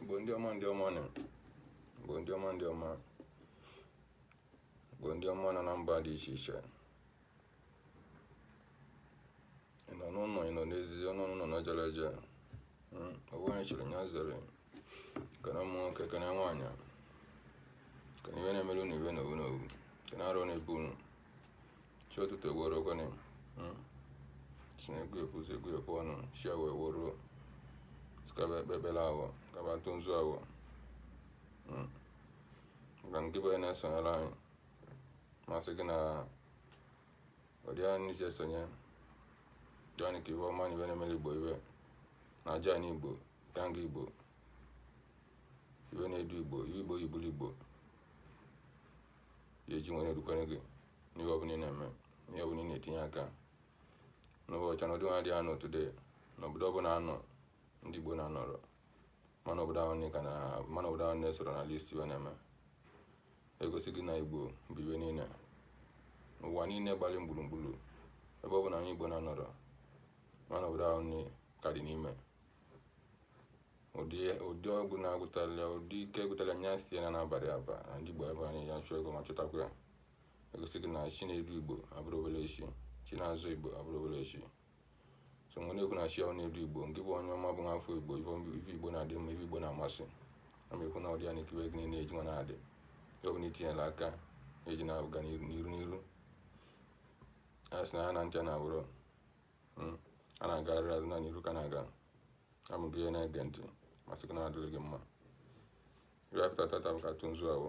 Igbo ndị ọma ndị ọma nọ Igbo ndị ọma ndị ọma Igbo ndị ọma nọ na mba dị iche iche ị nọ n'ụlọ ị nọ n'ezi ọ nọ n'ụlọ na jere eje Mm, ọ wụ onye chiri nya zere kene ụmụ nwoke kene nwaanyị kene iwe na-emere unu iwe na-ewu unu kene arụ na-ebu unu chi ụtụtụ e were kene sị na egwu ebu ụzọ egwu ebu ọnụ chi ewo e were kaba ekpe ekpere awọ kaba atụ nzu awọ maka nke bụ onye na-esonyere anyị m asị gị na ọ dịa n'isi esonye join ka iwe ọma na iwe na-emere igbo iwe na-aja anyị igbo ganga igbo iwe na-edu igbo iwe igbo yibulu igbo ya eji nwere erukwere gị n'ihe ọbụla ị na-eme n'ihe ọbụla ị na-etinye aka n'ụbọchị na ọdịnwa dị anọ today n'obodo ọbụla anọ ndị igbo na-anọrọ ma na obodo ahụ na-esoro na list iwe na-eme egosi gị na igbo bi ebe niile n'ụwa niile gbalị gburugburu ebe ọbụna onye igbo na-anọrọ ma na obodo ahụ nne ka dị n'ime ụdị ụdị ọgwụ na-agụtala dike gụtara nya sị ya na n'abalị aba na ndị igbo ebe anyị ya chụọ ego ma chọtakwa ya egosi gị na chi na-edu igbo abụrọ obere chi chi na-azọ igbo abụrọ obere chi so m na-ekwu na chi ahụ na-edu igbo nke bụ onye ọma bụ nwa afọ igbo ife igbo na-adị mma ife igbo na-amasị a ma ekwu na ọdị ya na ekiri gị na-eji nwa na-adị ọ bụla itinyela aka eji na-aga n'iru n'iru a sị na ha na ntị na abụrụ hmm, a na-agarịrị azụ na n'iru ka na-aga ọ bụ onye na-ege ntị m asị gị na-adịrị gị mma iwe pụta tata bụ ka tụ nzu awọ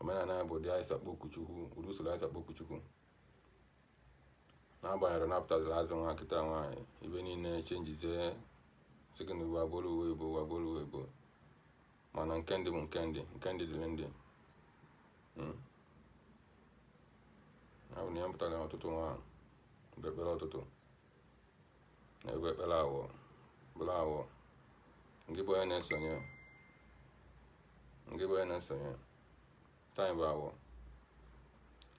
omenala bụ ụdị anyị si akpọku chukwu ụdị usoro anyị si akpọku chukwu n'agbanyeghị na apụtazila azụ nwa kịta nwa ibe niile chenjizie second bụ agbolu uwe igbo bụ agbolu uwe igbo mana nke ndị bụ nke ndị nke ndị dịrị ndị hmm. abụ na ya pụtara ụtụtụ nwa ekpe ekpere ụtụtụ na-ekpe ekpere awọ bụrụ awọ nke bụ onye na-eso oye nke bụ onye na-eso oye taa bụ awọ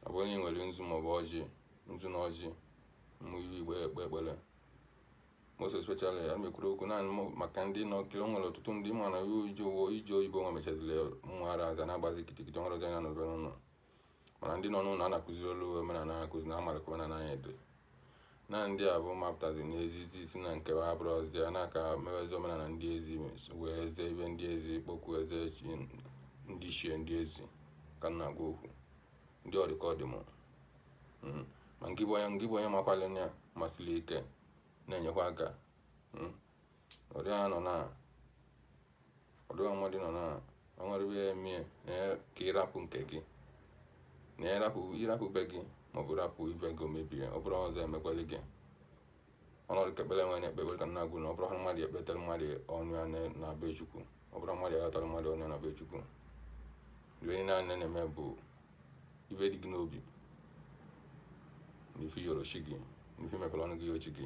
ọ bụrụ na ị nwere nzu maọbụ ọjị nzu na ọjị mmụ iru igbe ekpe ekpere most especially a mekwuru okwu naanị mụ maka ndị na-ekiri o nwere ọtụtụ ndị ma na iji ụgwọ iji oyibo nwa mechaziri mmụara aza na-agbazi kitikiti ọhụrụ ga na nọbe n'ụlọ mana ndị nọ n'ụlọ a na-akụzi olu omenala akụzi na amara ka omenala anyị dị na ndị a bụ mapụtazi n'ezi si na nke a abụrọzi a na-aka mewezi omenala ndị ezi mewezi ife ndị ezi kpọkuwezi chi ndị ichie ndị ezi ka m na-agwa okwu ndị ọdịka ọdịm mm. ma ngị bụ onye ngị bụ onye makwalị ya masịrị ike na-enyekwa aka mm. ọdụ ya nọ na ọdụ ya nwa dị nọ na o nwere ebe ya emie na ya ka ịrapụ nke gị na ya rapụ ịrapụ be gị maọbụ rapụ ife gị omebie ọ bụrọzi emekwalị gị ọnọdụ ka ekpere nwere ekpe ekpere ka m na-ekwu na ọ bụrọ ha mmadụ ekpetere mmadụ ọnụ ya na- na be chukwu ọ bụrọ mmadụ agọtara mmadụ ọnụ ya na be chukwu ife niile a na-eme bụ ife dị gị n'obi n'ife ị yọrọ chi gị n'ife i mepere ọnụ gị yọọ chi gị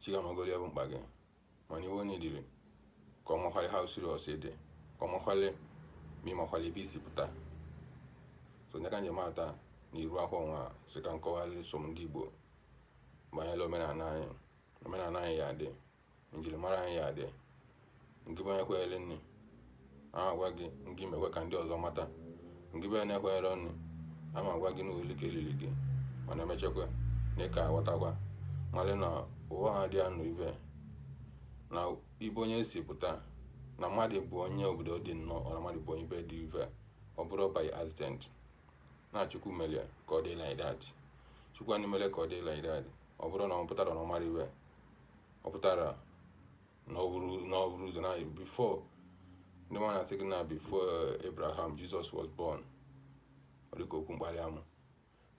chi gị amagoro ife bụ mkpa gị mana ife onye riri ka ọ makwalị ha usiri ọsọ ede ka ọ makwalị ma ị makwalị ebe i si pụta so nye ka m ji mata na iru akwa nwa sị ka m kọwalị so m ndị igbo banyere omenala anyị omenala anyị ya adị njirimara anyị ya adị ngị bụ onye kwenyere n'ife m na-agwa gị ngị mekwa ka ndị ọzọ mata ngị bụ onye na-ekwenyerọ n'ife m na-agwa gị n'ụlọ ike lili gị mana emechakwa na ị ga-aghọtakwa malị na ụwa ha dị anụ ibe na ebe onye si pụta na mmadụ bụ onye obodo dị nnọọ ọ na mmadụ bụ onye ibe dị ibe ọ bụrọ by accident na chukwu mere ka ọ dị like that chukwu anyị mere ka ọ dị like that ọ bụrọ na ọ pụtara na ọ mara ife ọ pụtara n'ọhụrụ n'ọhụrụ ụzọ na before ndị nwa na-asị gị na before abraham jesus was born ọ dịka okwu mkpali amụ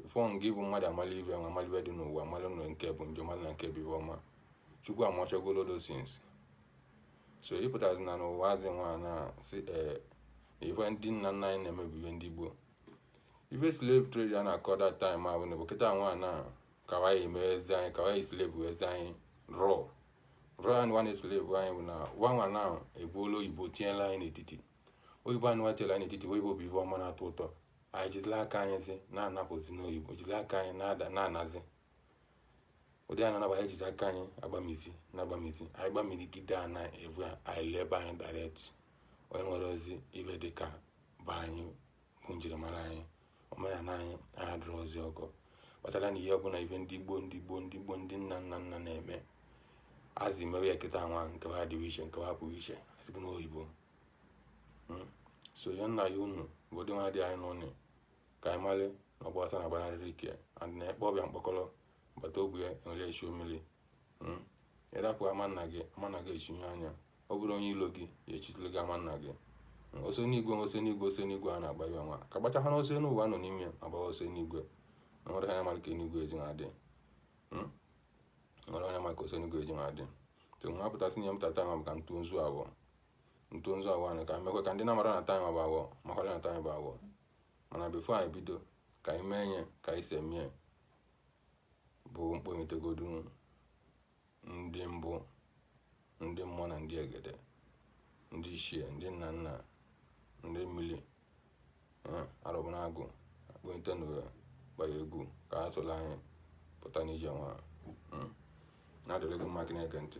before gị bụ mmadụ amali ife nwa amali ife dị n'ụwa amali nọ nke bụ njọ mmadụ na nke bụ ife ọma chukwu amachagolo those things so ị pụtazi na n'ụwa azị nwa na-asị ee ife ndị nna nna anyị na-emebi ife ndị gboo ife slave trade a na-akọ that time ahụ na bụ kịta nwa na ka wa ji emezi anyị ka wa ji slave wezi anyị raw Brian Wanesle bụ anyị bụ na wanwa na egbuola oyibo tinyela anyị n'etiti oyibo anụwa tinyela anyị n'etiti oyibo bụ ife ọma na-atọ ụtọ anyị jizila aka anyị zi na-anabazi n'oyibo jizila aka anyị na-ada na-anazi ụdị a na-anaba anyị jizi aka anyị agbamizi na agbamizi anyị gbamirigide ana evu a anyị lee ebe anyị direct o nwerọzi ife dịka bụ anyị bụ njirimara anyị omenala anyị adịrọzi ọ ya kpatara na ihe ọbụla ife ndị gboo ndị gboo ndị gboo ndị nna nna nna na-eme azị mewe ya kịta nwa nke ha dịwa iche nke ha pụrụ iche a sị gị n'oyibo hmm? so ya nna ya unu bụ ụdị nwa dị anyị n'ụlọ ka anyị male na ọgba ọsọ ana agbanarịrị ike and na-ekpe ọbịa mkpọkọrọ bata ogbe ya enwere echi mmiri hmm? ị rapụ ama nna gị ama nna gị echinye anya ọ bụrụ onye ilo gị ya echitụlụ gị ama nna gị hmm, ọsọ enigwe ọsọ enigwe ọsọ enigwe a na-agba ya nwa ka gbachakwa na ọsọ enu ụwa nọ n'ime agba ọsọ enigwe na nwere ha mara ka enigwe eji na-adị hmm? nwere onye ma ka ọsọ enigwe eji na-adị to nwa pụtasị nye m tata ma bụ ka ntụ nzu awọ ntụ nzu awọ anyị ka mekwe ka ndị na-amarọ na taa bụ awọ makwara na taa bụ awọ mana bifo anyị bido ka anyị mee nye ka anyị si eme ya bụ m kpọnyetegodu ndị mbụ ndị mmụọ na ndị egede ndị ichie ndị nna nna ndị mmiri eh, Arobunagu akpọnyete na gbara egwu ka ha soro anyị pụta n'ije nwa hmm. na-adịrị gị mma gị na-ege ntị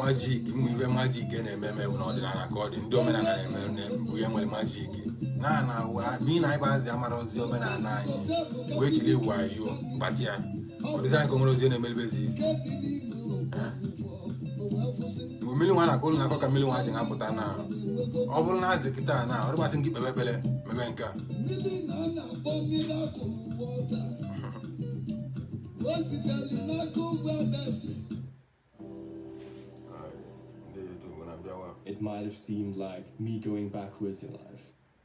majik ụmụ ibe majik na-eme eme n'ọdịnala ka ọ dị ndị omenala na-eme bụ ihe nwere majik na na n'ihi na anyị gbazi amarọzi omenala anyị wee jiri wayo gbatịa ọ dịzị anyị ka o nwerọzi na-emelibezi isi bụ mmiri nwa na-akụ ụlọ na-akọ ka mmiri nwa ji na-apụta na ọ bụrụ na a sị kịta na ọ dị ka a sị gị kpebe ekpere mebe nke a It might have seemed like me going backwards in life.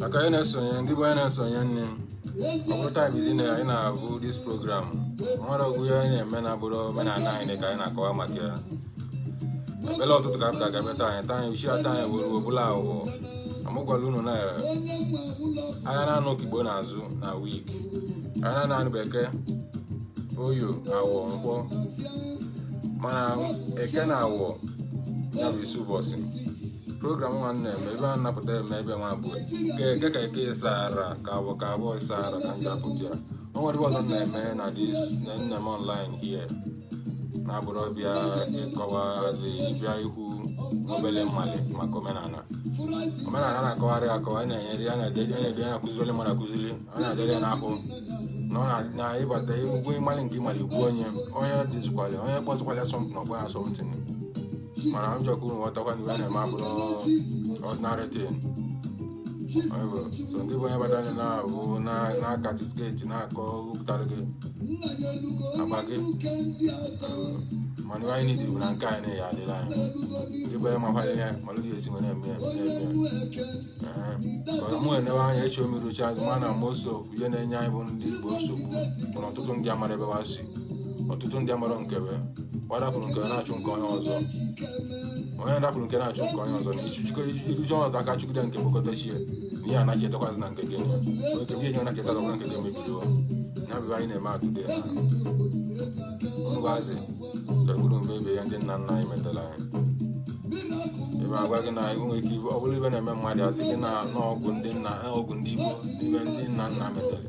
maka onye na-esonye ndị bụ onye na-esonye nne ọ bụrụ taịm izi na anyị na-abụ dis program nwere ọgwụ ihe anyị na-eme na-abụrọ omenala anyị ka anyị na-akọwa maka ya obele ọtụtụ ka m ga-agabeta anyị taa anyị uchi ata anyị were obula aghụghọ m agwala unu na anyị na-anọ okigbo n'azụ na wik anyị na-anọ eke oye awọ nkwọ mana eke na awọ ya bụ isi ụbọchị program nwa m na-eme ebe a na-apụta eme ebe nwa bụ ka eke ka eke ịsa ara ka awọ ka abụọ ịsa ara ka ndị apụta ya o nwere ọzọ m na-eme na dis na nne m online here na-abụrọ ịbịa ịkọwazi ịbịa ikwu obere m malị maka omenala omenala na-akọwarị akọwa a na-enyere ya na-edede na-edede na-akụziri mmadụ akụziri ọ na-adịrị ya n'ahụ na ọ na- na ịbata egwu ị malị nke ị malị igbu onye onye dịzikwala onye kpọzikwala asọmpi na ọgba asọmpi mana m chọkwa unu ghọtakwa na ihe na-eme abụrụ ordinary thing ngị bụ onye batara na-abụ na-aka tiketi na-akọ wepụtara gị agba gị mana ihe anyị need bụ na nke anyị na-eyi adịla anyị ndị bụ onye makwara ya malụ dị esi nwere eme ya mụ enewe anya echi omiruchi azụ ma na most of ihe na-enye anyị bụ ndị igbo nsogbu bụ na ọtụtụ ndị amarọ ebe wa si ọtụtụ ndị amarọ nke be ọ rapụrụ nke na-achụ nke onye ọzọ onye rapụrụ nke na-achụ nke onye ọzọ na ichujikọ iruji ọnọdụ aka chụgide nke bụkọtachie na ihe anaghị etekwazị na nke gị onye nke ihe nye anaghị etetazị na nke gị emebido ya bụ anyị na-eme atụde na ụnụ gwazi gagburu mebe ya ndị nna nna anyị metara anyị ebe agwa gị na enwe ike ibe ọ bụrụ ibe na-eme mmadụ asị gị na ọgwụ ndị nna ọgwụ ndị igbo ibe ndị nna nna metara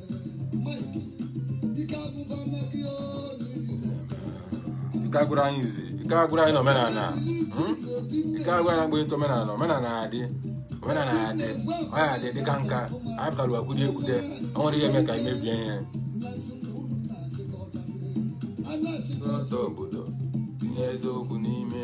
ike agwụrụ anyị izi ike agwụrụ anyị na omenala hmm? ike agwụrụ anyị mgbe omenala omenala adị omenala adị ọ ya adị dịka nke a anyị pụtara akwụdị ekwute o nwere ihe eme ka anyị mebie ihe obodo eziokwu n'ime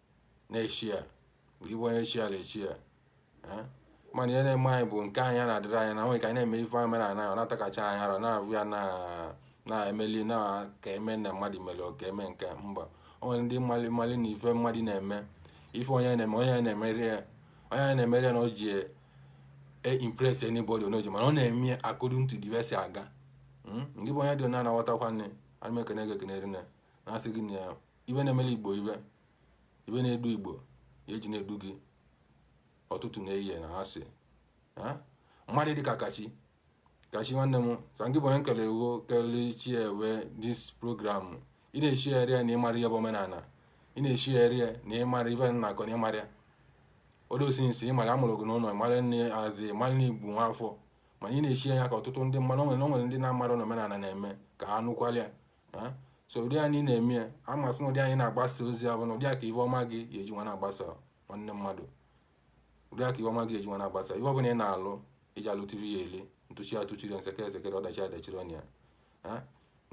n'eshia gị bụ onye shia eshia mana ihe na-eme anyị bụ nke anyị a na-adịrị anyị na nwere ka anyị na-eme ife anyị mere anaghị na-atakacha anyị ara na-abụ ya na-emeli na ka eme na mmadụ mere ka eme nke mba o nwere ndị mmali mmali na ife mmadụ na-eme ife onye na-eme onye na-emeri ya onye na-emeri ya na o ji e impress anybody onoji mana ọ na-eme ya according to the way si aga hmm? ngị bụ onye dị na-anaghọtakwa nne ana m ekene gị ekene rinne asị gị na ya ibe na-emere igbo ibe ibe na-edu igbo ya eji na-edu gị ọtụtụ na-eyi na ha si mmadụ dị ka kachi kachi nwanne m sangị bụ onye nkele wo kele chi ewe this program ị na-eshigharị ya na ịmara ihe bụ omenala ị na-eshigharị ya na ịmara ibe na akọ na ịmara ya odosinsi ịmara amụrụ gị n'ụlọ ịmara nne adị ịmara na ị bụ nwa afọ mana ị na-eshi ya ka ọtụtụ ndị mmadụ o nwere o nwere ndị na-amara na omenala na-eme ka ha nụkwalịa so ụdị anyị na-eme ya amasị na ụdị anyị na-agbasa ozi ya bụ na ụdị aka ibe ọma gị ga-eji nwa na-agbasa nwanne mmadụ ụdị aka ibe ọma gị ga-eji nwa na-agbasa ibe ọbụla ị na-alụ iji alụ tv ya ele ntụchi atụchiri nsekere esekere ọdachi adachiri ọnya ya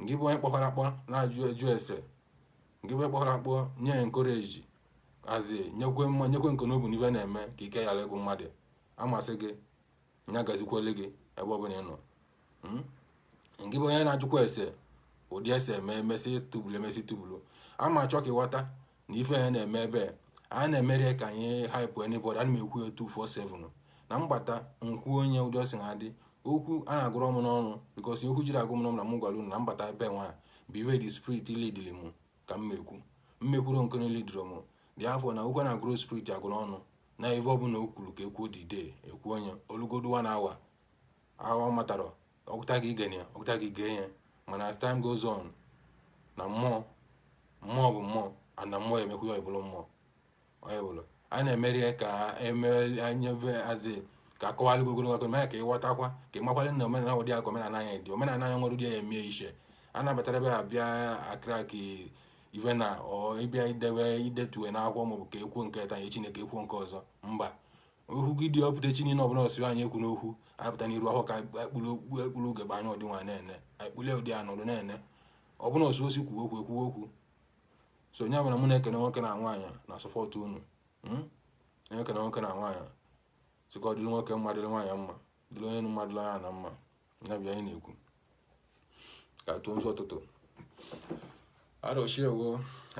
ngị bụ onye kpọhara akpọ na-ajụ ese ngị bụ onye kpọhara akpọ nye ya encourage asị nyekwe nyekwe nke n'obu n'ibe na-eme ka ike ghara ịgwụ mmadụ amasị gị ya gazikwele gị ebe ọ bụla ị nọ hmm? ngị bụ onye na-ajụkwa ese ụdị ese eme emesị tubulu emesị tubulu ama achọ ka ịghọta na ife ya na-eme ebe a na-emere ka anyị hype anybody ana m ekwu ya 247 na mgbata nkwu onye ụdị ọsị na adị okwu a na-agụrụ m n'ọnụ because okwu jiri agụ m n'ọnụ na m gwara unu na mbata ebe nwa bụ ife the spirit lidiri m ka m mekwu mmekwuru nke lidiri m therefore na okwu a na-agụrụ spirit agụ n'ọnụ na ife ọbụla o kwuru ka ekwuo dide ekwu ya olugodu one hour ahụ ọ matarọ ọgụta gị igene ya ọgụta gị gee ya mana as time goes on na mmụọ mmụọ bụ mmụọ a na mmụọ emekwu ya ọbụla mmụọ onye bụla a na-emeri ya ka emeanyebe azị ka akọwalụ gị ogologo akọ mere ka ịghọtakwa ka ịmakwale na omenala ụdị aka omenala anyị dị omenala anyị nwere ụdị ya emie iche a nabatara ebe a bịa akịrị akị ife na ịbịa idebe idetue n'akwụkwọ maọbụ ka ekwuo nke taa echi ka ekwuo nke ọzọ mba okwu gị dị ọpụta chi niile ọbụ na ọ sị anyị ekwuna okwu apụta n'iru ahụ ka ekpuru ekpuru ugegbe anya ọdị nwa na-ene ekpule ụdị anọdụ na-ene ọbụ na ọ sị sị kwuo okwu ekwuo okwu so onye ọbụla mụ na-ekene nwoke na nwaanyị na-asọpọtụ unu hmm? onye ekene nwoke na nwaanyị sịka ọdịrị nwoke mma dịrị nwaanyị mma dịrị onye mmadụ anya na mma ya bịa anyị na-ekwu ka tụọ nzu ụtụtụ arọchukwu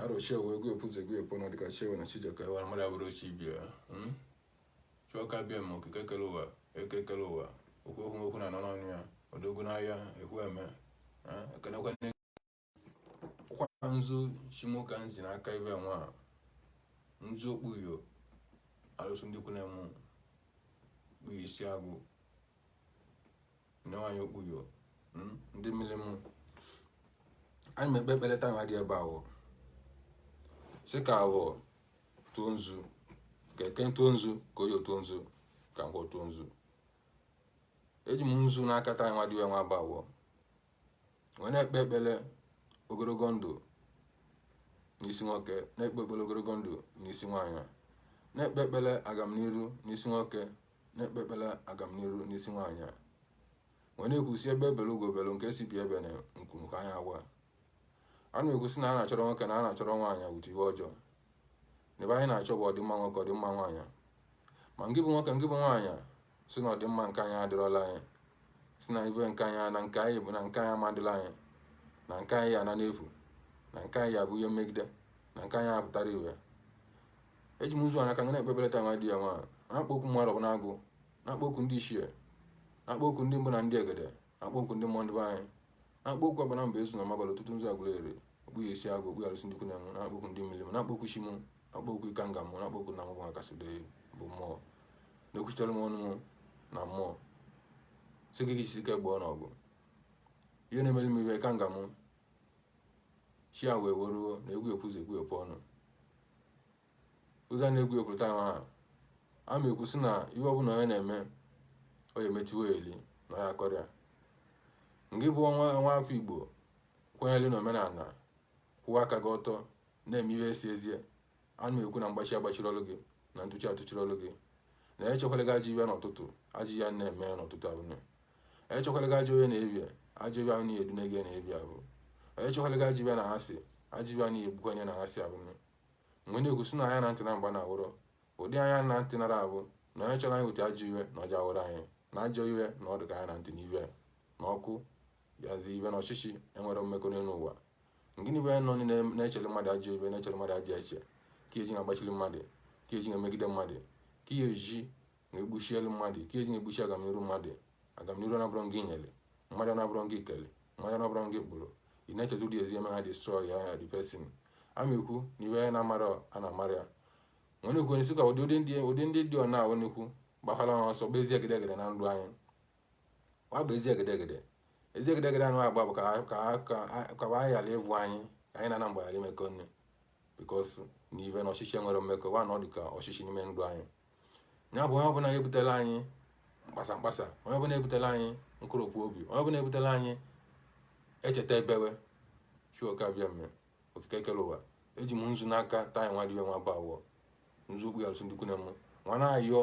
arọchukwu egwu epuzi egwu epu na dịka chukwu na chi ji oke ụwa mmadụ abụrọ chi ibe ya hmm? chukwu oke abịama okike kele ụwa eke kele ụwa okwu okwu okwu na-anọ n'ọnụ ya odogwu n'agha ekwu eme ekenekwa kwa nzu chi m ka m ji n'aka ibe nwa nzu okpuyo alụsị ndị kwune m kpuyo isi agụ nyewa ya okpuyo mm, ndị mmiri m anyị na-ekpe ekpere taa nwa dị ya bụ afọ sị ka afọ tụọ nzu ka eke tụọ nzu ka oye tụọ nzu ka nkwọ tụọ nzu eji m nzu n'aka taa nwa dị ya nwa bụ afọ wee na-ekpe ekpere ogologo ndụ n'isi nwoke na-ekpe ekpere ogologo ndụ n'isi nwaanyị na-ekpe ekpere agamniru n'isi nwoke na-ekpe ekpere agamniru n'isi nwaanyị a wee na-ekwusi egbe bere ugo bere nke sị ibe ebena nku kwaa ya akwa a na-ekwusi na a na-achọrọ nwoke na a na-achọrọ nwaanyị hụta ihe ọjọọ ife anyị na-achọ bụ ọdịmma nwoke ọdịmma nwaanyị ma ngị bụ nwoke ngị bụ nwaanyị sị na ọdịmma nke anyị adịrọla anyị sị na ibe nke anyị na nke anyị bụ na nke anyị ama dịlị anyị na nke anyị ya-ana n'efu na nke anyị ya-abụ ihe mmegide na nke anyị apụtarọ ihe eji m nzu n'aka wee na-ekpe ekpere taa nwa dị ya nwa na-akpọku ụmụ arọbịnagụ na-akpọku ndị ichie na-akpọku ndị mbụ na ndị egede akpọku ndị mmụọ ndị be anyị na-akpọku agbana mba ezu na mabalị ọtụtụ nzu agwụla ere okpu ya esi agụ okpu ya alụsị ndị ikwu na mụ nwa na-akpọku ndị mmiri m na-akpọku isi m na-akpọku ikenga m na-akpọku na nwụgwọ akasị dị bụ mmụọ na-ekwuchitere m ọnụ m na mmụọ si gị gị ike gbụọ n'ọgụ ihe na-emeli m ihe ikenga m chi a wee weruo na egwu ekwuzi egwu epu ọnụ oge a na-egwu ekwurịta ahụ ahụ ana m ekwu sị na ihe ọbụla onye na-eme ọ ya emechiwe eli na ya akọrịa nke bụ nwa nwa afọ igbo kwenyere na omenala kwụwa aka gị ọtọ na-eme ihe esi ezie ana m ekwu na mgbachi agbachiri ọlụ gị na ntụchi atụchiri ọlụ gị na onye chekwala gị ajọ ihe n'ụtụtụ ajọ ihe na-eme n'ụtụtụ ahụ na onye chekwala gị ajọ ihe n'ehihie ajọ ihe ahụ na-edu na-ege n'ehihie ahụ onye chekwala gị ajọ ihe n'anyasị ajọ ihe ahụ na-egbukwa onye n'anyasị ahụ na wee na-ekwu sị na anya na ntị na mgba na-awụrụ ụdị anya na ntị nara abụ na onye chọrọ iweta ajọ ihe na ọ ga-awụrụ anyị na ajọ ihe na ọ dị ka anya na ntị na ihe na ọkụ yazi ihe na ọchịchị enwerọ mmekọ n'elu ụwa gịnị bụ nọ na-echere mmadụ ajọ ihe na-echere mmadụ ajọ uche ike eji na-agbachiri mmadụ ike eji na-emegide mmadụ ike eji na-egbuchili mmadụ ike eji egbuchi agamniru mmadụ agamniru ọ bụrọ gị nyere mmadụ na ọ bụrọ gị kele mmadụ na ọ bụrọ gị kpụrụ ị na-echeta ụdị ezi eme ha destroy ya ya dipesin ana m ekwu na ihe na amara a na amara ya nwere ekwu onye sịkwa ụdị ụdị ndị dị ọna ahụ n'ekwu gbakwala ha ọsọ bụ ezi egedegede na ndụ anyị ọ bụ ezi egedegede ezi egedegede anụ agba bụ ka wa ghara ịbụ anyị ka anyị na-ana mgbe ghara imekọ nne because na ive na ọchịchị enwerọ mmekọ wa na ọ dị ka ọchịchị n'ime ndụ anyị ya bụ onye ọbụla ebutela anyị mkpasa mkpasa onye ọbụla ebutela anyị nkoropụ obi onye ọbụla ebutela anyị echeta ebewe chukwu abịama okike kere ụwa eji m nzu n'aka taa nwa dibịa nwa bụ awọ nzu okpu ya alụsị ndukwu na mụ nwa na-ayọ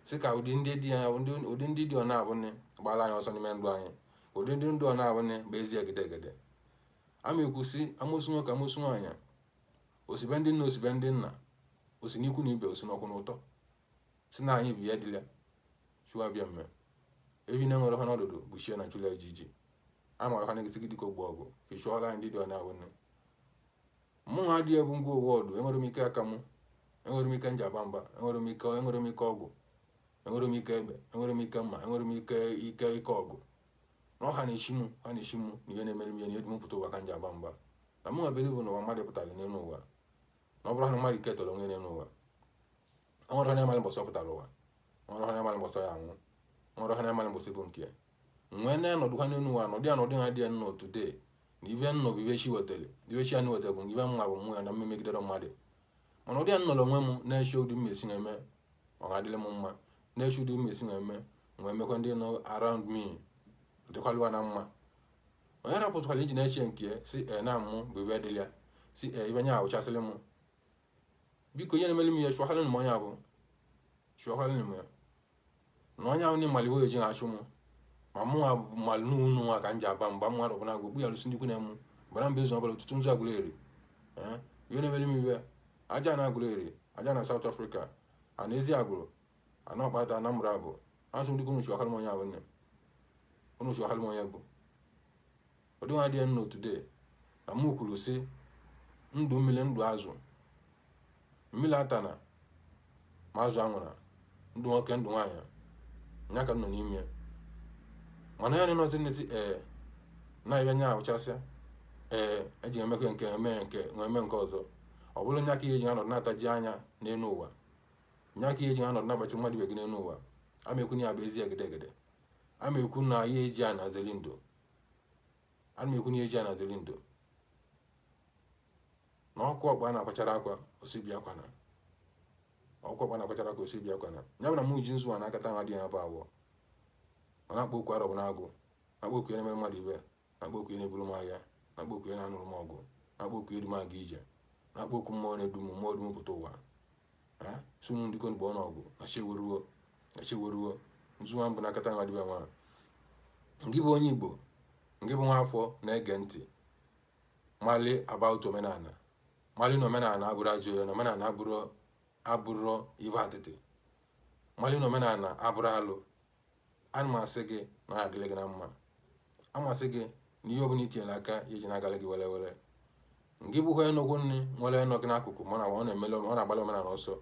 sị ka ụdị ndị dị ya ụdị- ụdị ndị dị ọ na-abụ nne gbara anyị ọsọ n'ime ndụ anyị ụdị ndị dị ọ na-abụ nne bụ ezi egedegede ana m ekwu sị amosu nwoke amosu nwaanyị o si be ndị nne o si be ndị nna o si n'ikwu na ibe o si n'ọkwụ n'ụtọ sị na anyị bụ ya dịla chukwu abịama ebi na enwere ha n'ọdụdụ bụ chie na chụla ejiji a mara ha na-egesi gị dịka ogbu ọgụ ka ị chụọla ndị dị ọ na-awụ nne mụ nwa adịghị ebu ngwa ọgụ enwere m ike aka mụ enwere m ike njaba mba enwere m ike enwere m ike ọgwụ enwere m ike egbe enwere m ike mma enwere m ike ike ike ọgụ na ọha na-echi m ha na-echi m na ihe na-emere m ihe na-edu m pụta ụwa ka njaba mba na mụ nwabere bụ na ụwa mmadụ pụtara n'elu ụwa na ọ bụrọ na mmadụ ketalụ onwe ya n'ụwa ọ nwere onye mara mbọsị ọ pụtara ụwa nwere onye mara mbọsị ya anwụ nwere onye mara mbọsị bụ nke ya nwee na anọdụ ha n'elu ụwa nọdụ ya nọdụ ha dị ya nnọọ today na ive nnọ bụ ive chi wetara ive chi anyị wetara bụ ive mma bụ mmụọ ya na mmemegidere mmadụ mana ụdị ya nnọrọ onwe m na-eche ụdị m esi na-eme ọ ga-adịrị m mma na-eche ụdị m esi na-eme nwee mekwa ndị nọ around me dịkwalụ wa na mma onye rapụtụkwara iji na-eche nke ya si e na mụ bụ ibe dịrị ya si e ibe nya ahụchasịrị mụ because ihe na-emere m ya chụọkwara m onye abụ chụọkwara m ya na onye ahụ na-emali wee ji na-achụ mụ ma mụ nwa mmalụ n'ụnụ nwa ka m ji aba mgba mmadụ ọbụla gwa okpu ya lụsị ndị ikwu na-emu bara mba ezu ọbụla ọtụtụ nzu agụla eri ihe na-emere m ibe aja na agụla eri aja na South Africa a na ezi agụrụ ana ọkpata anambra bụ asụ ndị unu chụkwalụ m onye abụ nne unu chụkwalụ m onye bụ ọdịnwa dị nnọọ today na mụ kwuru sị ndụ mmiri ndụ azụ mmiri atana ma azụ anwụra ndụ nwoke ndụ nwaanyị nya ka nọ n'ime mana ya nọzi n'ezi ee na-abịa nya ahụchasịa ee eji emekwe nke eme nke eme nke ọzọ ọ bụrụ nya ka ihe ji anọdụ na-ataji anya n'elu ụwa nya ka ihe eji anọdụ na-agbachi mmadụ ibe gị n'elu ụwa ama ekwu na ya bụ ezi egedegede ama ekwu na ya eji a na-azeli ndo ana ekwu na ya eji a na-azeli ndo na oke ọkpa na-akwachara akwa osibi akwa na oke ọkpa na-akwachara akwa osibi akwa na ya bụ na mụ ji nzu a n'aka taa nwa dị ya bụ abụọ m na-akpọ oku arọbụnagụ na-akpọ oku ya na-emere mmadụ ibe na-akpọ oku ya na-eburu m agha na-akpọ oku ya na-anụrụ m ọgụ na-akpọ oku ya edu m aga ije na-akpọ oku mmụọ na-edu m mmụọ edu m pụta ụwa ha si ụmụ ndị konigbo ọnụọgụ na cheweruo na cheweruo nzu a m bu n'aka taa nwa dịba nwa ngị bụ onye igbo ngị bụ nwa afọ na-ege ntị mali about omenala mali na omenala abụrọ ajọ ihe na omenala abụrọ ive atịtị mali na omenala abụrọ alụ ana m asị gị na ọ adịlị gị na mma a m asị gị na ihe ọbụla itinyere aka ya eji na-agalị gị were were ngị bụkwa enugwu nri nwere nọ gị n'akụkụ mana ọ na-emele ọ na-agbalị omenala ọsọ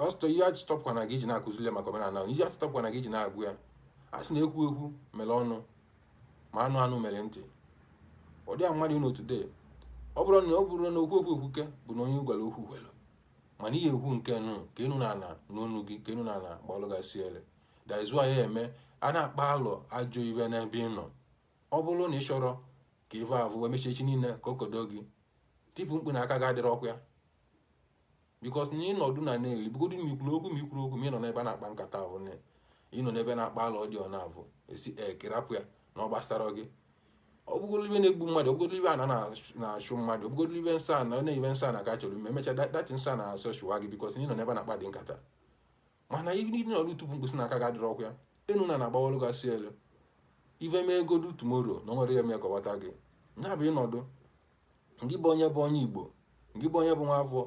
ọsọ ihe atụtọpụkwa na gị iji na-akụzile maka omenala ihe atụtọpụkwa na gị iji na-agụ ya a sị na ekwu ekwu mere ọnụ ma anụ anụ mere ntị ọ dị a mmadụ n'otu dee ọ bụrụ na ọ bụrụ na okwu okwu ekwuke bụ na onye a gwara okwu kwere mana i ya-ekwu nke nụ ka enu na ala nụ onu gị ka enu na ala gbalụ gị ọsịalị that is why ya eme a na-akpa alụ ajọ ive n'ebe ị nọ ọ bụrụ na ị chọrọ ka ife avụ wee mesịa echi niile ka o kodo gị tipụ mkpu na aka gị adịrọkwa ya because na ịnọdụ na na-ele bugodu na ikwuru okwu ma ikwuru okwu ma ịnọ n'ebe na-akpa nkata avụ ịnọ n'ebe na-akpa alụ ọdịọ na avụ ị sị ka ị rapụ ya na ọ gbasarọ gị ọ bụgolo ive na-egbu mmadụ ọ bụgolo ive ana na-achụ mmadụ ọ bụgolo ive nsọ ana na-ebe nsọ a na-aga chọrọ ime emecha that nsọ a na-asọ chụwa gị because ị nọ n'ebe na-akpa dị nkata mana ihe niile ọrụ tupu mkpụsị na aka ga adịrọ ọkụ ya enu na na-agbawalụ gasị elu ive mee godu tomorrow na o nwere ya mee kọwata gị ya bụ ịnọdụ ngị bụ onye bụ onye igbo ngị bụ onye bụ nwa afọ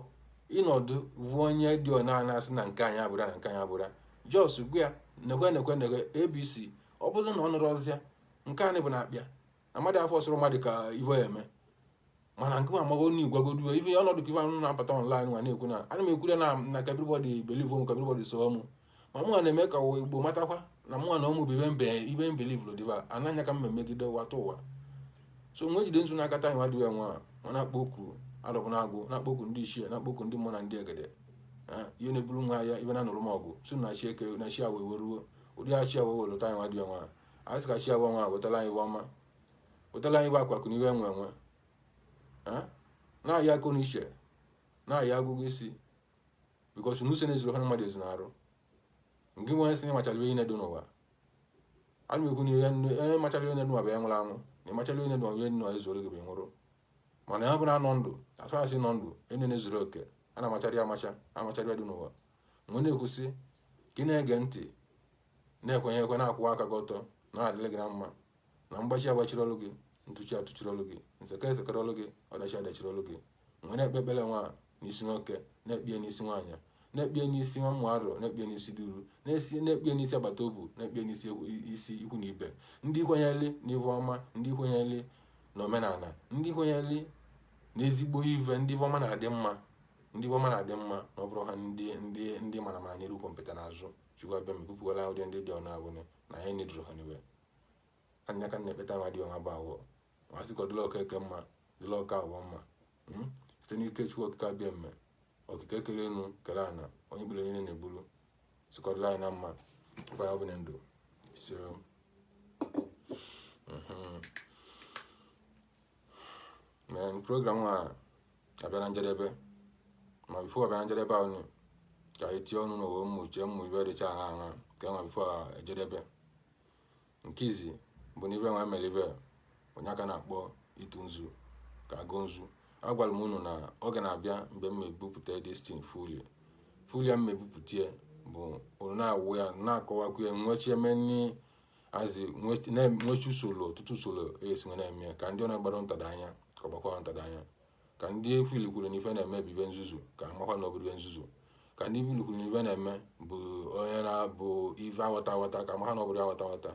ịnọdụ bụ onye dị ọna na-asị na nke anyị abụra na nke anyị abụra just gwa ya nekwe nekwe nekwe abc ọ bụrụ na ọ nụrụ ozi a nke anyị bụ na akpịa amadị afọ sụrụ mmadụ ka ivo ya eme mana nke ma mago ni gwagodu ife ọnọdụ ka ife anụ na-apụta online nwa na-ekwu na ana m ekwure na na ka everybody believe m ka everybody so mụ ma mụnwa na-eme ka ụwa igbo matakwa na mụnwa na ụmụ bụ ive m be ive m believe dibịa anaghị ka mma megide nwata ụwa so m wee jide nzu n'aka taa nwa dịwa nwa ma na-akpọ oku alọbụnagụ na-akpọ oku ndị ichie na-akpọ oku ndị mmụọ na ndị egede ihe na-eburu nwa ya ibe na nụrụ m ọgụ si na chi eke na chi awọ eweruo ụdị chi awọ wetara anyị nwa dịwa nwa a sị ka chi awọ nwa wetala anyị ive ọma wetala anyị ive akụ akụ na ive enwe enwe na ya akọ na uche na ya agụgụ isi because na usoro ezuru ha mmadụ ezu na-arụ nke nwe sị na ịmachala ive nine dị n'ụwa ana m ekwu na onye machara ive n'ụwa bụ ya nwụrụ anwụ na ịmachala ive n'ụwa ive n'ụwa ezuoro gị bụ nwụrụ mana ya bụrụ anọ ndụ atụ asị nọ ndụ enye na-ezuru oke a na-amachara ya amacha amachara ive dị n'ụwa mgbe na-ekwusị ka ị na-ege ntị na-ekwenye ekwe na-akwụwa aka gị ọtọ na adịla gị na mma na mgbachi agbachiri ọlụ gị ntụchi atụchiri ọlụ gị nseke esekere ọlụ gị ọdachi adachiri ọlụ gị m wee na-ekpe ekpere nwa n'isi nwoke na-ekpie n'isi nwaanyị na-ekpie n'isi nwa mmụ arọ na-ekpie n'isi duru na-esi na-ekpie n'isi agbata obu na-ekpie n'isi isi ikwu na ibe ndị kwenyeli na ive ọma ndị kwenyeli na omenala ndị kwenyeli na ezigbo ive ndị ive ọma na-adị mma ndị ive ọma na-adị mma na ọ bụrụ ha ndị ndị ndị mara mara nyere ukwu mpeta n'azụ chukwu abịama pụpụwala ụdị ndị dị ọnụ abụnị na anyị nedụrụ ha nine anya ka na-ekpe taa nwa dị ọha bụ awọ ma sị ka ọ dịla ọka eke mma dịla ọka awọ mma hmm? site n'ike chukwu okike abịama okike kere enu kere ana onye bụla niile na-eburu sị ka ọ dịla anyị na mma ọkwa ya ọ bụ na ndụ so mhm. main program a abịa na njedebe ma before abịa na njedebe ahụ ka anyị tie ọnụ n'ụwa mmụchie ụmụ ive dịcha ha ha ka e nwa before ejedebe nke izi bụ na ive nwa mere ive onye aka na-akpọ ịtụ nzu ka ịgọ nzu agwara m unu na oge na-abịa mgbe m mebupụta this thing fully fully ya m mebupụta ya bụ unu na-awụ ya na-akọwakwu ya nwechie many azi nwechi usoro ọtụtụ usoro esi wee na-eme ka ndị ọ na-agbara ntada anya ka ọ gbakwara ntada anya ka ndị fụlụ kwuru na ife a na-eme bụ ife nzuzu ka ha makwa na ọ bụrọ ife nzuzu ka ndị fụlụ kwuru na ife a na-eme bụ onye na-abụ ife awata awata ka ha makwa na ọ bụrọ awata awata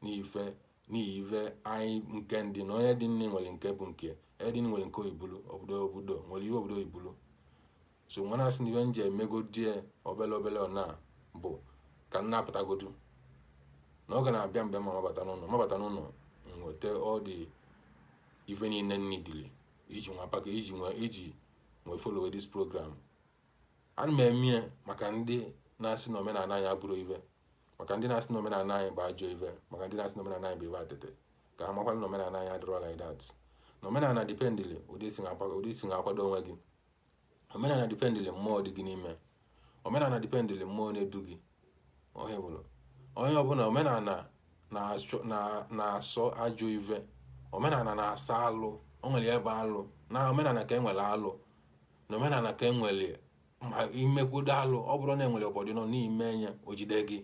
n'ife n'ihi ife anyị nke ndị na onye dị nne nwere nke bụ nke onye dị nne nwere nke oibulu obodo obodo nwere ihe obodo oibulu so wa na-asị na ive m ji emegodi ya obele obele ọ na bụ ka m na-apụtagodu na ọ ga na-abịa mgbe ma mabata n'ụlọ mabata n'ụlọ nweta ọ dị ife niile nidili iji nwa paka iji nwa iji wee follow this program a na m eme ya maka ndị na-asị na omenala anyị abụrọ ife maka ndị na-asị na omenala anyị bụ ajọ ife maka ndị na-asị na omenala anyị bụ ife atịtị ka ha makwana na omenala anyị adịrọ like that na omenala dipendili ụdị i si na-akwado onwe gị omenala dipendịlị mmụọ dị gị n'ime omenala dipendịlị mmụọ na-edu gị onye bụrụ onye ọbụla omenala na-asọ ajọ ive omenala na-asọ alụ o nwere ebe alụ na omenala ka e nwere alụ na omenala ka e nwere ma i mekwudo alụ ọ bụrụ na e nwere ụvọdụ nọ n'ime ya o jide gị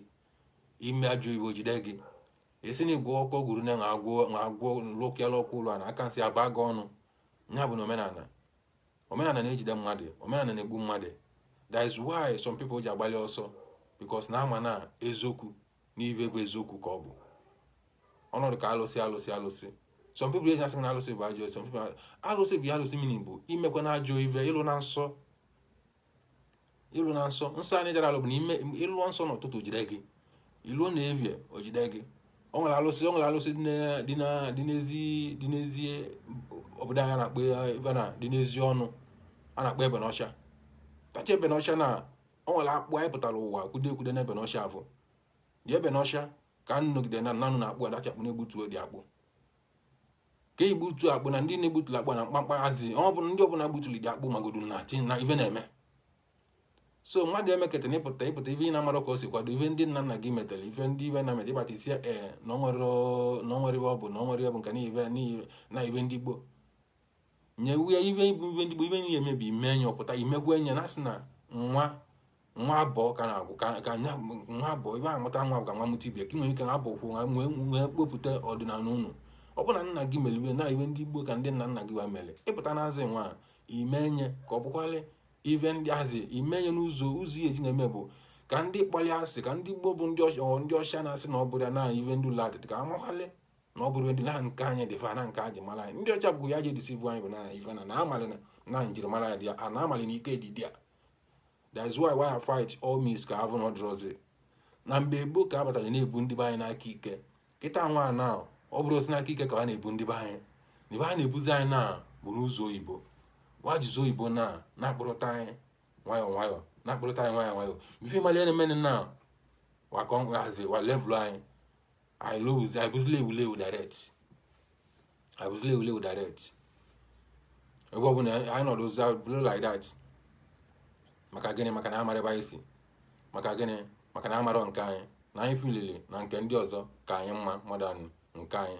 i mee ajọ ive o jide gị e si na igwe ọkụ gwuru na agwọ agwọ lụkịala ọkụ ụlọ na aka nsị agba gị ọnụ ya bụ na omenala omenala na-ejide mmadụ omenala na-egbu mmadụ that is why some people ji agbalị ọsọ because na a ma na eziokwu na ive bụ eziokwu ka ọ bụ ọnọdụ ka alụsị alụsị alụsị some people ji asị na alụsị bụ ajọ some people alụsị bụ alụsị mini bụ i mekwana ajọ ive ị lụna nsọ ị lụna nsọ nsọ anyị jara alụ bụ na ime ị lụọ nsọ n'ụtụtụ o jide gị ị lụọ n'evie o jide gị ọ nwere alụsị o nwere alụsị dị n'ezi dị n'ezi obodo anyị na-akpọ ebe na dị n'ezi ọnụ a na-akpọ ebe n'ọcha tacha ebe n'ọcha na o nwere akpụ anyị pụtara ụwa kwude ekwude na ebe n'ọcha afọ dị ebe n'ọcha ka nnọgide na nanụ na akpụ adacha akpụ na-egbutuo dị akpụ ka igbutu akpụ na ndị na-egbutuli akpụ na mkpamkpa hazi ọ bụ ndị ọbụla gbutuli dị akpụ magodu na chi na ife na-eme so mmadụ emeketa na ị pụta ị pụta ife ị na-amarọ ka e si kwado ife ndị nna nna gị metere ife ndị ibe na meta ị bata ị sị ee na o nwere ive ọ bụ na o nwere ive bụ nke na ive na ive ndị gboo nyewe ya ive bụ ive ndị bụ ive nye ya emebi ime enye ọ pụta imekwa enye na asị na wa wa abụọ ka na-agwụ ka anya nwa abụọ ibe amụta nwa ka nwa mụta ibe ka nwere ike na abụ kwụ nwa nwee nwee kpopụta ọdịnala unu ọ bụ na nna gị mere ive na ive ndị gboo ka ndị nna nna gị wa mere ị pụta n'azị wa ime enye ka ọ bụkwalị ive ndị azị ime enye n'ụzọ ụzọ ihe e ji na-eme bụ ka ndị kpọlụ asị ka ndị gboo bụ ndị ọcha na-asị na ọ bụrọ ya na ive ndị ụlọ atịtị ka ha makwalị na ọ bụrụ ndị na nke anyị dị fa na nke a ji mara anyị ndị ọcha bụ ya ji edisi bụ anyị bụ na ife na na amalị na na njirimara ya dị ya a na amalị na ike dị dị ya that's why wa ya fight all means ka a vụ na ọ dịrọzi na mgbe gboo ka a batara na-ebu ndị be anyị n'aka ike kịta nwa na ọ bụrọzi n'aka ike ka a na-ebu ndị be anyị na ebe a na-ebuzi anyị na bụrụ ụzọ oyibo wa jizi oyibo na na-akpụrụta anyị nwayọọ nwayọọ na-akpụrụta anyị nwayọọ nwayọọ ife mali na-emenụ na wakọ nhazi wa levụlụ anyị I lose, I bụzila evulevu direct. I bụzila evulevu direct. Ebe ọ bụla anyị nọdụzi ọ bụrụ like that. Maka gịnị maka na amarọ ebe anyị si. Maka gịnị maka na amarọ nke anyị na anyị filili na nke ndị ọzọ ka anyị mma more than nke anyị.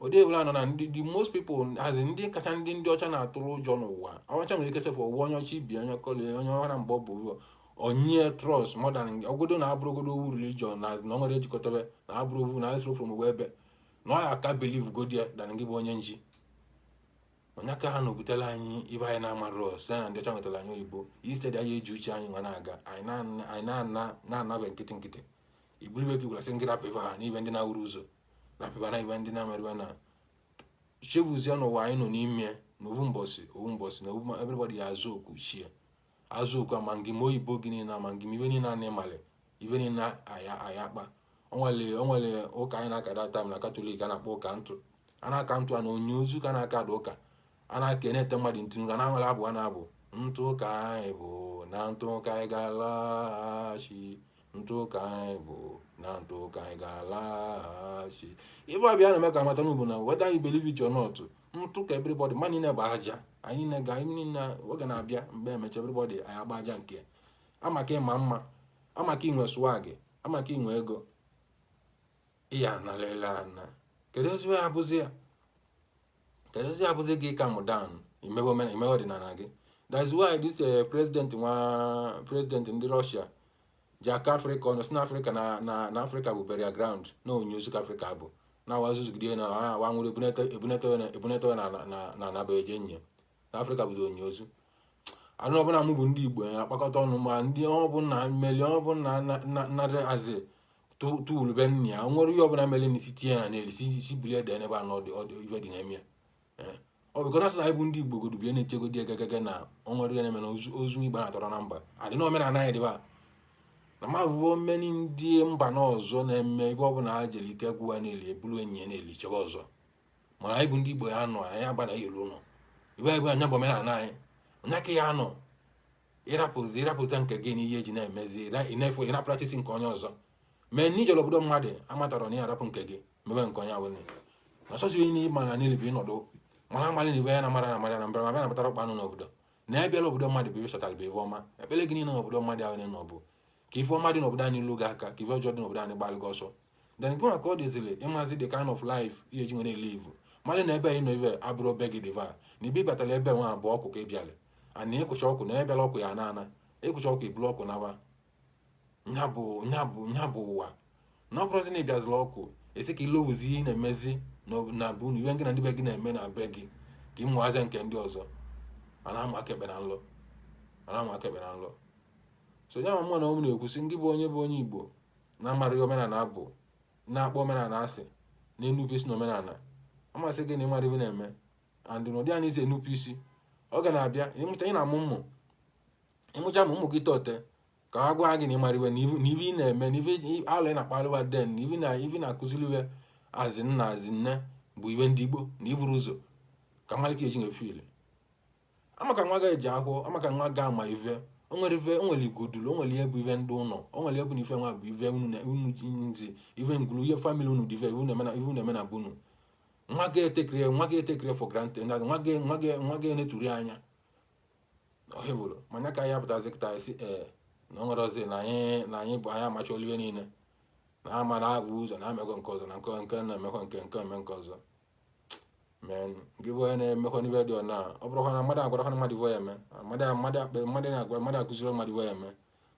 ụdị ebula nọ na ndị the most people as ndị kacha ndị ndị ọcha na-atụrụ ụjọ n'ụwa ọcha nwere ike sefụ ụwa onye ọcha ibi onye kọli onye ọha na mgbe ọ bụ ụzọ onye trust more than ọgodo na abụrọgodu ovu religion na na o nwere ejikọtabe na abụrọ ovu na esoro from ụwa ebe na ọ ya aka believe godi ya than gị bụ onye nji onye aka ha na-obutela anyị ibe anyị na-amarọ site na ndị ọcha nwetara anyị oyibo instead anyị eji uche anyị nwa na-aga anyị na-ana na-anabe nkịtị nkịtị i bulu ive gị gwara sị ngị rapụ ife ha n'ibe ndị na-awụrụ ụzọ na apịba na ibe ndị na-amarịba na chefuzie n'ụwa anyị nọ n'ime na ovu mbọsị ovu mbọsị na ovu everybody ya-aza oku chi ya aza oku ama ngị ma oyibo gị niile ama ngị ma ive niile na ị malị ive niile aya aya kpa o nwere o nwere ụka anyị na-aka that time na katọlik a na-akpọ ụka ntụ a na-aka ntụ a na onye ozu ka na-aka that ụka a na-aka a na-ete mmadụ ntụ n'iru na e nwere abụ a na-abụ ntụ ka anyị bụ na ntụ ka anyị ga-alaghachi ntụ ka anyị bụ na ntụ ka anyị ga-alaghachi ife ọ bịa na-eme ka a mata na ọbụna whether you believe it or not ntụ ka everybody ma niile bụ aja anyị niile ga anyị niile oge na-abịa mgbe emecha everybody anyị agba aja nke amaka ị ma mma amaka i nwe swag amaka i nwe ego ị ya-analịlị ana kedụzi ive ya bụzi ya kedụzi ya bụzi gị ị calm down ị mebe omena ị mebe ọdịnala gị that's why this eh, president nwa president ndị Russia ji akọ afrịka ọnụ si na afrịka na na afrịka bụ burial ground na onye ozu afrịka bụ na wa zuzugide na wa nwere ebunete ebunete na na na na na be eje nye na afrịka bụzi onye ozu anụ ọbụla mụ bụ ndị igbo ya akpakọta ọnụ ma ndị ọbụla mmeli ọbụla narị azị tuulu be nna ya nwere ihe ọbụla mere n'isi tinye na n'elu si bulie ede n'ebe a na ọ dị ọ dị ife dị na-eme ya eh. ọ bụ kọta sị na anyị bụ ndị igbo godubie na-echegodi egegege na o nwere ihe na-eme na ozu igbo na-atọrọ na mba adị na omenala anyị dịba na mabụbụ mmeni ndị mba na ọzọ na-eme ebe ọbụla ha jere ike gwụ wa na-eli ebulu enyi ya na-eli chebe ọzọ mana anyị bụ ndị igbo ya anọ anyị agba na elu ụlọ ibe anyị bụ anya bụ omenala anyị onye aka ya anọ ịrapụzi ịrapụta nke gị n'ihe eji na-emezi ịna-efu ịrapụrachisi nke onye ọzọ mee na ijere obodo mmadụ amatara na ya arapụ nke gị mebe nke onye awụnye na chọchiri ihe ịma na niile bụ ịnọdụ mara amalị na ibe ya na mara na mara na mbara ma bịa nabatara ọkpa anụ n'obodo na ya bịala obodo mmadụ bụ ive ị chọtara bụ ife ọma ekpele gị niile n'obodo mmadụ ahụ na ọbụ ka ife ọma dị n'obodo anyị lu gị aka ka ife ọjọọ dị n'obodo anyị gbalụ gị ọsọ then gị ka ọ dịziri ịmazi the kind of life ị ya-eji wee live malụ na ebe ị nọ ibe abụrọ be gị dịva na ibe ịbatara ebe nwa a bụ ọkụ ka ị bịara ana ịkụcha ọkụ na ebela ọkụ ya na-ana ịkụcha ọkụ ibulu ọkụ naba nya bụ nya bụ nya bụ ụwa na ọ bụrụzi na ịbịazụrụ ọkụ ị sị ka ilowuzi ị na-emezi na bụ na ive gị na ndị be gị na-eme na be gị ka ịmụ aja nke ndị ọzọ a na-amụ aka ekpe na nlọ a na-amụ aka ekpe na nlọ so ya ma mụ na ụmụ na-ekwusi ngị bụ onye bụ onye igbo na amarọ omenala abụ na-akpọ omenala asị na enupụ isi na omenala amasị gị na ịmarọ ive ị na-eme and na ụdị a na-esi enupụ isi ọ ga na-abịa ịmụcha ị na-amụ mmụ ịmụcha ma ụmụ gị tote ka ha gwa gị na ịmarọ ive na ive ị na-eme na ibe ala ị na-akpalị wa then na ive na ive na-akụziri wa azi nna azi nne bụ ibe ndị Igbo na iburu ụzọ ka mmalike eji nwe fili maka wa ga eji ahụ maka wa ga ama ive onwere ive onwere igodulu onwere ihe bụ ive ndị unu onwere egwu na ife nwa bụ ive unu ji nzi ive ngulu ihe family unu dị ive ive na-eme na be unu wa ga e take it wa ga e take it for granted wa ga wa ga wa ga eneturi anya ọhịa bụrụ manya ka ya pụtazi kịta esi ee na onwere ọzi na anyị na anyị bụ anyị amacha olive niile na ama na ebu ụzọ na amekọ nke ọzọ na nke nke na-emekọ nke nke eme nke ọzọ mee gị bụ onye na-emekwa n'ive dị ọna ọ bụrụkwa na mmadụ agwara na mmadụ ya eme mmadụ na-agwa mmadụ akụziri mmadụ ya eme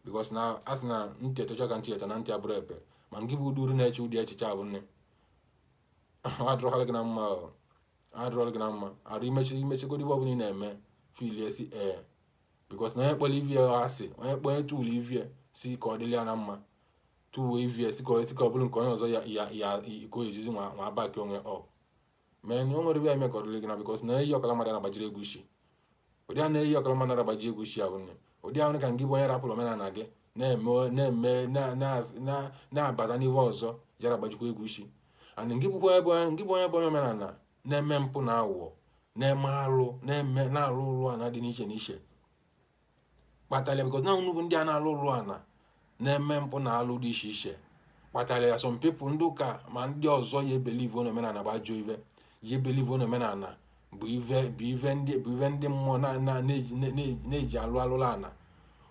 because na a sị na ntị etocha ka ntị eto na ntị abụrụ ebe ma gị bụ uduru na-eche ụdị echiche ahụ nne ọ dịrọkwala gị na mma ọ dịrọla gị na mma arụ imechi imechigodi ive ọbụla ị na-eme filie si ee because na onye kpọrọ ive ya asị onye kpọrọ etu ụlọ ive ya sị ka ọ dịrị ya na mma tuwe ive ya sị ka ọ bụrụ nke onye ọzọ ya ya ya ka o ezizi nwa nwa baki onwe ọ mee na o nwere bịa eme ka ọ dịrị gị na because na eyi ọkala mmadụ na-agbajiri egwu isi ụdị a na-eyi ọkala mmadụ na-agbaji egwu isi ahụ nne ụdị ahụ ka ngị bụ onye rapụrụ omenala gị na-eme na-eme na- na- na- na-abata n'ihe ọzọ jara agbajikwa egwu isi and ngị bụkwa ebe onye- ngị bụ onye bụ onye omenala na-eme mpụ na aghụghọ na-eme alụ na-eme na alụlụ ana dị n'iche n'iche kpatara because na unu bụ ndị a na-alụ alụlụ ana na-eme mpụ na alụ dị iche iche kpatara ya some people ndị ụka ma ndị ọzọ ya ebelieve na omenala bụ ajọ ive ya ebelieve na omenala bụ ive bụ ive ndị bụ ive ndị mmụọ na-eji alụ alụlụ ana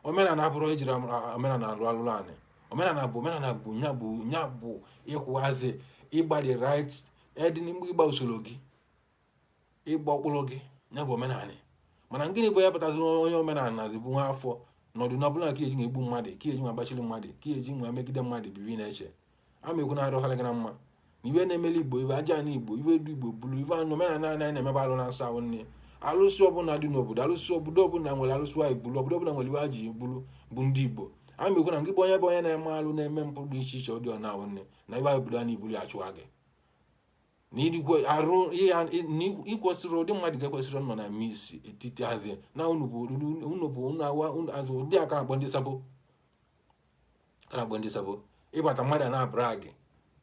omenala abụrọ ejiri omenala alụ alụlụ ana omenala bụ omenala bụ nya bụ nya bụ ịkwụwazi ịgbalị right edin mgbe ịgba usoro gị ịgba ọkpụrụ gị ya bụ omenala mana gịnị bụ ya pụtazi onye omenala dị bụ nwa afọ n'ọdụ na ọbụla ka eji nwa egbu mmadụ ka eji nwa gbachiri mmadụ ka eji nwa megide mmadụ bibi na-eche ama ekwu na-arụghara gị na mma na ive na-emeli igbo ive aja na igbo ive ndị igbo bulu ive anụ omenala anyị na-emebe alụ na-asa ahụ nne alụsị ọbụla dị n'obodo alụsị obodo ọbụla nwere alụsị anyị bulu obodo ọbụla nwere ive aji bulu bụ ndị igbo ama ekwu na gị bụ onye bụ onye na-eme alụ na-eme mpụ dị iche iche ọ dị ọ na-ahụ nne na ive anyị bulu a na ibuli achụwa gị na igwe arụ ya na ikwesịrị ụdị mmadụ gị ekwesịrọ nọ na midst etiti asị na unu bụ unu bụ unu awa unu azụ ndị aka na-akpọ ndị sabo a na-akpọ ndị sabo ịbata mmadụ na-abụra gị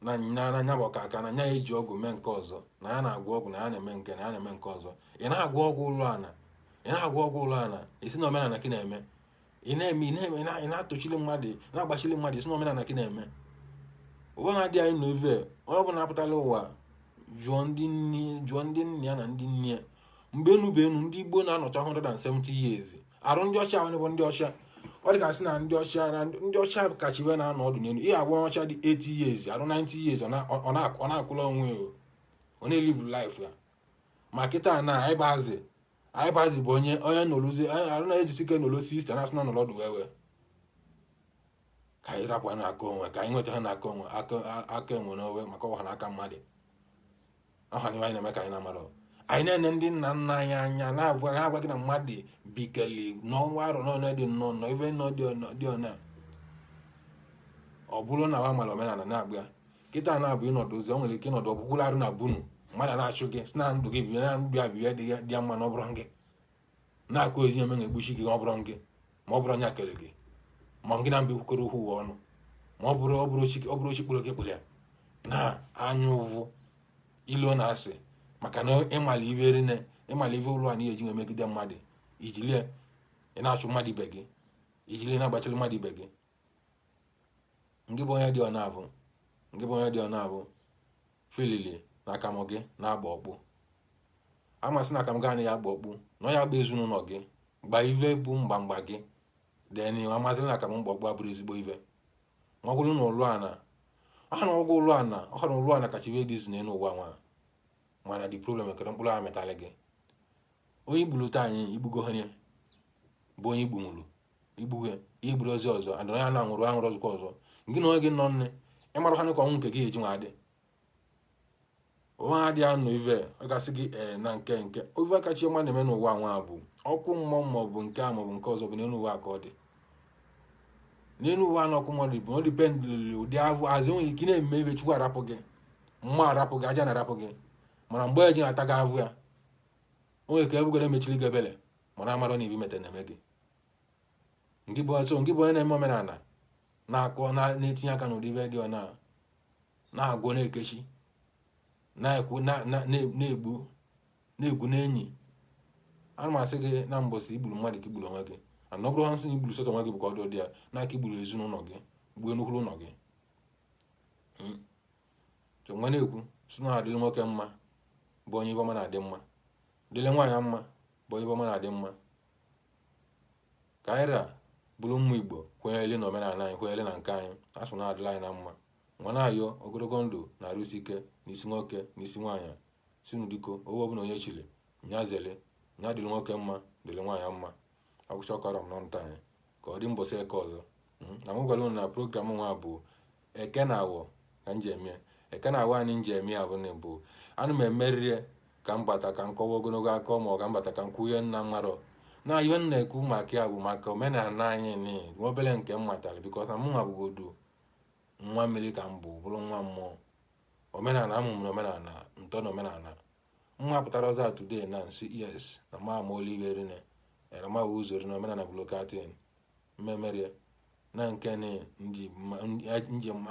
na nya bụ ọka aka na nya eji ọgwụ mee nke ọzọ na ya na-agwọ ọgwụ na ya na-eme nke na ya na-eme nke ọzọ ị na-agwọ ọgwụ ụlụ ana ị na-agwọ ọgwụ ụlụ ana ị sị na omenala gị na-eme ị na-eme ị na-eme ị na-atochili mmadụ na-agbachili mmadụ ị sị na omenala gị na-eme onwe ha dị anyị na ove onye ọbụla apụtala ụwa jụọ ndị nne jụọ ndị nne ya na ndị nna ya mgbe enu bụ enu ndị Igbo na-anọcha 170 years arụ ndị ọcha ahụ bụ ndị ọcha ọ dịgasị na ndị ọcha na ndị ọcha kacha ive na-anọ ọdụ n'elu ihe agwa ọcha dị 80 years arụ 90 years ọ na-akwụla onwe ya ọ na-elive life ya ma kịta na ịbazi anyị bazi bụ onye onye nọrụzi arụ na-ejisi ike nọrọ sixty na asị na nọrọ ọdụ wewe ka anyị rapụ na aka onwe ka anyị nweta ha na aka onwe aka enwe n'owe maka ọha na aka mmadụ ọha na anyị na-eme ka anyị na-amara anyị na-ene ndị nna nna anyị anya na-agwa ha agwa gị na mmadụ bikeli n'ụwa arọ n'ọnụ dị nnọọ nọ ive ndị ọ na ọ bụrụ na wa mara omenala na-agba kịta na-abụ ịnọdụzi ọ nwere ike ịnọdụ ọgwụgwụrụ arụ na bunu mmadụ na-achụ gị si na ndụ gị bibe na ndụ abịbịa dị ya mma na ọ bụrọ gị na-akụ ezi ome na-egbuchi gị ọ bụrọ gị ma ọ bụrọ nya kere gị ma gị na mba ekwukọrọ okwu ụwa ọnụ ma ọ bụrụ ọ bụrụ chi kpụrụ gị kpụrụ ya na anya ụvụ ilo na asị maka na ịmala ive rine ịmala ive ụlọ anyị eji emegide mmadụ ijili ị na-achụ mmadụ ibe gị ijili na-agbachiri mmadụ ibe gị ngị bụ onye dị ọ na-abụ ngị bụ onye dị ọ na-abụ filili na akamụ gị na-agba ọkpụ amasị na akamụ gị anaghị agba ọkpụ na ọ ya agba ezinụlọ gị gba ive bụ mgbamgba gị deni amasị na akamụ mgba ọkpụ abụrụ ezigbo ive ma ọ bụrụ na ụlụ ana aha na ọgwụ ụlụ ana ọha na ụlụ ana kacha ive dị izu n'elu ụwa nwa mana the problem ekere mkpụrụ ahụ metalị gị onye i gburu taa anyị i gbugo onye bụ onye i gbunwuru i gbuo ya i gburu ozu ọzọ and onye a na-anwụrụ anwụrụ ọzọkwa ọzọ gị na onye gị nọ nne ịmara ha ka ọnwụ nke gị eji nwa adị onwe ha dị anụ ive ọ gasị gị ee na nke nke ofe kacha ọma na-eme n'ụwa nwa bụ ọkụ mmụọ ma ọ bụ nke a maọbụ nke ọzọ bụ n'elu ụwa ka ọ dị n'elu ụwa na ọkụ mmụọ dị bụ ọ dependịlị ụdị ahụ azụ enweghị ike na-eme ebe chukwu arapụ gị mmụọ arapụ gị ajana arapụ gị mana mgbe eji na-ata gị ahụhụ onye ka ebugoro emechiri gị ebele mara amara na ive i meta na-eme gị ngị bụ ọzọ ngị bụ onye na-eme omenala na-akpọ na-etinye aka n'ụdị ive dị ọna na-agwọ na-ekechi na-ekwu na-egbu na-egwu n'enyi ana m asị gị na mbọsị i gburu mmadụ ka i gburu onwe gị ana ọ bụrụ a sị na i gburu sọsọ onwe gị bụ ka ọ dị ụdị ya na aka i gburu ezinụlọ gị gbuo nnukwu ụlọ gị hmm. nwa na-ekwu sị nya dịrị nwoke mma bụ onye ive ọma na-adị mma dịlị nwaanyị mma bụ ive ọma na-adị mma ka anyị ra bụrụ ụmụ igbo kwenyere na omenala anyị kwenyere na nke anyị a sị nya dịlị anyị na mma nwa na-ayọ ogologo ndụ na arụ isi ike n'isi nwoke n'isi nwaanyị sị unu biko ebe ọbụla onye chiri nya zere nya dịrị nwoke mma dịrị nwaanyị mma ọ gwụcha ka ọ ra m n'ọnụ taa ka ọ dị mbọsị eke ọzọ hmm? na m gwara unu na program nwa bụ eke na awọ ka m ji eme eke na awọ anyị m ji eme ya bụ na bụ ana m emeriri ka m bata ka m kọwa ogologo akọ ma ọ ka m bata ka m kwuo ihe m na-amarọ na ihe m na-ekwu maka ya bụ maka omenala anyị ni nwa obere nke m matara because na mụnwa bụgodu nwa mmiri ka m bụ bụrụ nwa mmụọ omenala a mụrụ m na omenala m too na omenala nwa pụtara ọzọ today na-asị yes na ma ama olu ive niine era ma wụ ụzọ rine omenala blokatin mmemerie na nke ni nji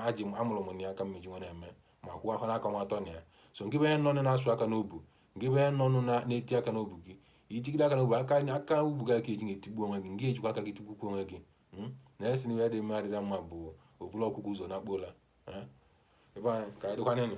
aji amụrụ m ya aka m ji wee eme ma kwụọ afọ n'aka nwa atọ na ya so ngị bụ onye nọ na-asụ aka n'obu ngị bụ onye nọ na-eti aka n'obu gị ijigide aka n'obu aka aka ubu gị aka eji ga-etigbu onwe gị ị ga-ejikwa aka gị tigbukwu onwe gị hmm? na esi na ihe dị mma adịra mma bụ obula ọkụkọ ụzọ na akpola ebe anyị ka ọ dịkwanịnụ